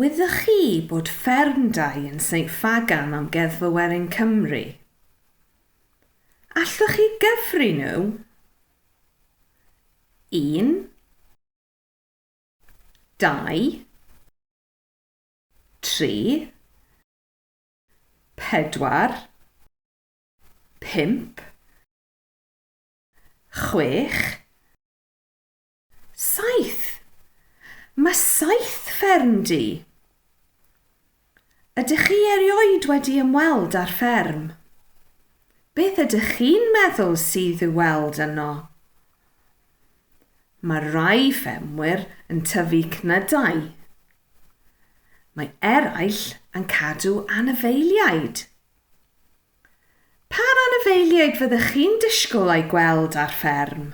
Wyddoch chi bod ffermdai yn St Ffagan Amgueddfa Werin Cymru? Allwch chi gyfri nhw? Un, dau, tri, pedwar, pump, chwech, saith. Mae saith fferm di. Ydych chi erioed wedi ymweld â'r fferm? Beth ydych chi'n meddwl sydd i'w weld yno? Mae rhai ffermwyr yn tyfu cnydau. Mae eraill yn cadw anifeiliaid. Pa anifeiliaid fyddech chi'n disgwyl eu gweld ar fferm?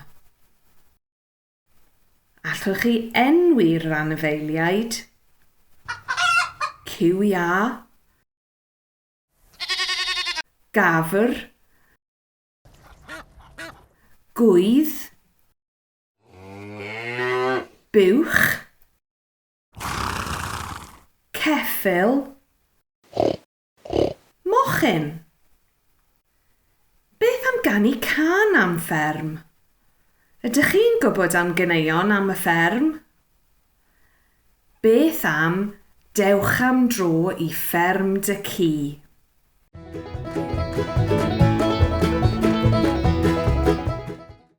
Allwch chi enwi'r anifeiliaid? Cyw iâ, gafr, Gwydd. Buwch. Ceffyl. Mochyn. Beth am ganu cân am fferm? Ydych chi'n gwybod am ganeuon am y fferm? Beth am dewch am dro i fferm dy ci?